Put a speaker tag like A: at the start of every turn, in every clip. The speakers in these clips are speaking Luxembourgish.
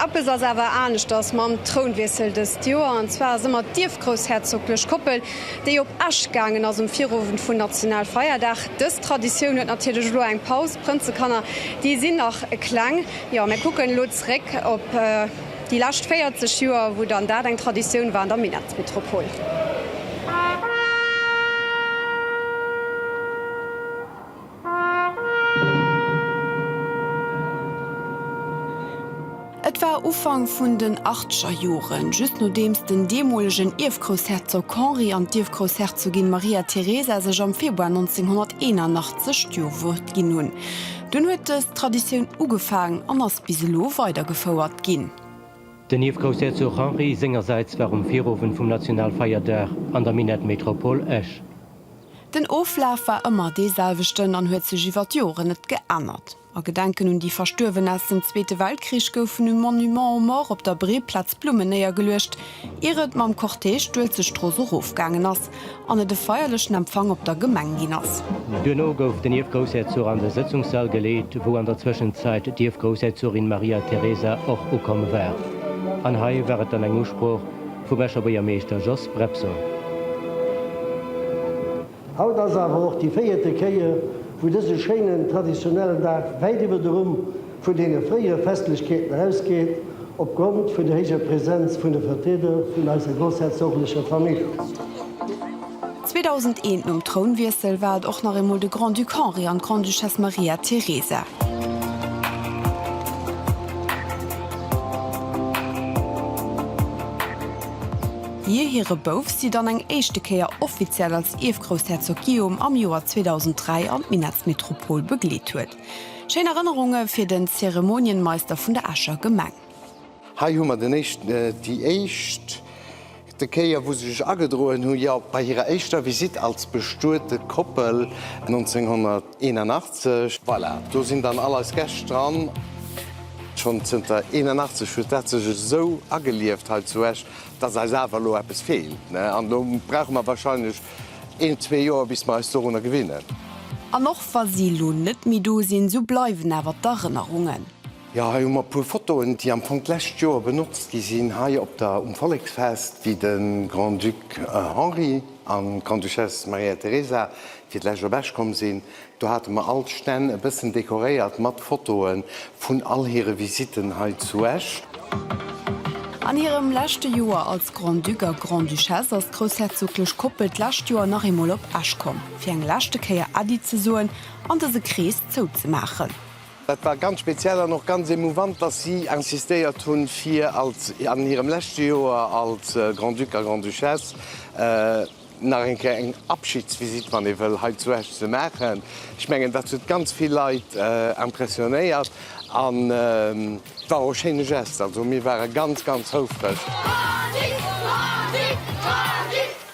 A: Eppes ass awer aneschters mam Trounwiessel dëst Joer, an zwar ass ëmmer d'ierfgroussherzoglech Koppel, déi op Esch gaangen ass um Virowend vun Nationalfeierdag. Dës Traditioun huet natierlech elo eng Paus, d'Prënzekanner, déi sinn nach kleng. Jo, mir kucken elo zeréck op déi lescht 40 Joer, wou dann dat eng Traditioun war an der Minettsmetropol. Et war Ufank vun den achtscher Joren, just nodeems den deemolegen Ierfgroussherzog Henri an d'Ierfgroussherzogin Maria Teresa sech am Februar 1981 d'Jo-Wuert ginn hunn. Dunn huet dës Traditioun ugefaangen an ass bis elo weidergefouert ginn. Den
B: Ierfgroussherzog Henri sengersäits war um Virowend vum Nationalfeierdag an der Minett Métropole Esch. Den
A: Oflaf war ëmmer dee selwechten an huet sech iwwer d'Joren net geännert. A Gedenken un déi Verstuerwen aus dem Zweete Weltkrich goufen um Monument aux Morts op der Breeplaz Blummen néiergeluecht, ier et mam Cortège d'Uelzechtstrooss erofgaangen ass an et e feierlechen Empfang op der Gemeng ginn ass. Duerno gouf den
B: Ierfgroussherzog an de Sëtzungssall geleet, wou an der Zwëschenzäit d'Ierfgroussherzogin Maria Teresa och ukomm war. An hei war et dann eng Usprooch. Vum Escher Buergermeeschter Jos Brepsol.
C: Haut ass awer och déi véierte Kéier, wou dëse schéinen traditionellen Dag wäit iwwer de Rumm vun deene fréiere Festlechkeeten erausgeet, opgrond vun der héijer Präsenz vun de Vertrieder vun eiser groussherzoglecher Famill. 2001
A: nom Trounwiessel war et och nach eemol de Grand-Duc Henri an d'Grande-Duchesse Maria Teresa. Hir hire Bouf si dann eng éischte Kéier offiziell als Ierfgroussherzog Guillaume am Joer 2003 an d'Minettsmetropol begleet huet. Schéin Erënnerunge fir den Zeremonienmeister vun der Escher Gemeng. Hei hu mer
D: den éischten, déi éischt, te Kéier wou se sech agedroen hu jo bei hirer éischter Visite als bestuete Koppel 1981. Voilà, do sinn dann all eis Gäscht dran. Schonn zënter 81 huet dat sech esou agelieft hei zu Esch, dass eis awer elo eppes feelt, ne? An elo brauche mer wahrscheinlech een, zwee Joer bis mer eis dorunner gewinnen. An och wa
A: si elo net méi do sinn, sou bleiwen awer d'Erënnerungen. Jo, hei hu mer
D: e puer Fotoen, déi am Fong d'lescht Joer benotzt gi sinn, hei op der, um Volleksfest, wéi de Grand-Duc Henri an d'Grande-Duchesse Maria Teresa fir d'lescht op Esch komm sinn. Do hate mer all d'Stänn e bëssen dekoréiert mat Fotoe vun all hire Visitten hei zu Esch.
A: An hirem leschte Joer als Grand-Duc a Grande-Duchesse ass d'groussherzoglech Koppel d'lescht Joer nach eemol op Esch komm, fir eng leschte Kéier Äddi ze soen an dëse Krees zouzemaachen. Dat war ganz
D: speziell an och ganz emouvant, datt si insistéiert hunn, fir als an hirem leschte Joer als Grand-Duc a Grand-Duchesse nach eng Kéier eng Abschidsvisitt, wann ee wëll, hei zu Esch ze maachen. Ech mengen, dat huet ganz vill Leit impressionéiert an et war och e schéine Geste. Also mir ware ganz, ganz houfreg.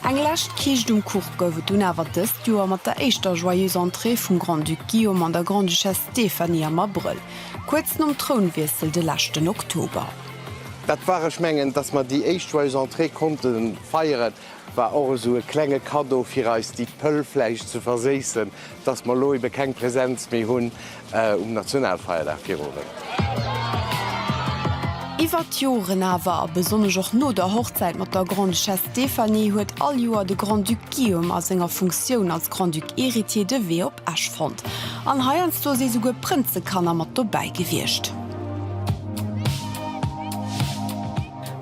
A: Eng lescht Kiischt um Kuch gouf et dunn awer dëst Joer mat der éischter Joyeuse Entrée vum Grand-Duc Guillaume an der Grande-Duchesse Stéphanie am Abrëll, kuerz nom Trounwiessel de leschten Oktober. Dat war,
D: ech mengen, datt mer déi éischt Joyeuse Entrée konnte feieren, war och esou e klenge Kaddo fir eis déi Pëll vläicht ze verséissen, datt mer elo ebe keng Präsenz méi hunn. Um Nationalfeierdag Virowend.
A: Iwwert d'Joren awer, a besonnesch och no der Hochzäit mat der Grande-Duchesse Stéphanie, huet all Joer de Grand-Duc Guillaume a senger Funktioun als Grand-Duc héritier de Wee op Esch fonnt. An heiansdo si souguer Prënzekanner mat dobäi gewiescht.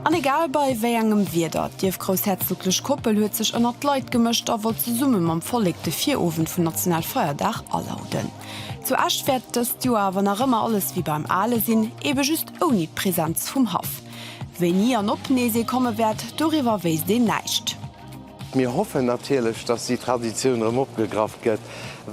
A: An egal bei wéi engem Wieder, d'ierfgroussherzoglech Koppel huet sech ënnert d'Leit gemëscht a wollt zesumme mam Vollek de Virowend vun Nationalfeierdag alauden. Zu Esch wäert dëst Joer, wann nach ëmmer alles wéi beim Ale sinn, ebe just ouni d'Presenz vum Haff. Wéini an ob nees ee komme wäert, doriwwer wéisst een näischt. Mir hoffen
D: natierlech, datt déi Traditioun erëm opgegraff gëtt,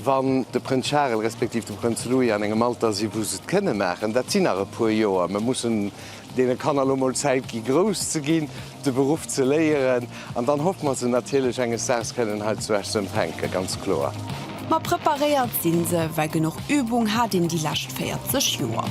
D: wann de Prënz Charel respektiv de Prënz Louis an engem Alter si wou se et kënne maachen. Dat sinn nach e puer Joer, mir mussen Deene Kanner elo mol Zäit gi grouss ze ginn, de Beruff ze léieren an dann hoffe mer se natierlech enges Daags kënnen hei zu Esch ze empfänke, ganz kloer. Ma
A: preparéiert sinn se, well genuch Übung hat een déi lescht 40 Joer.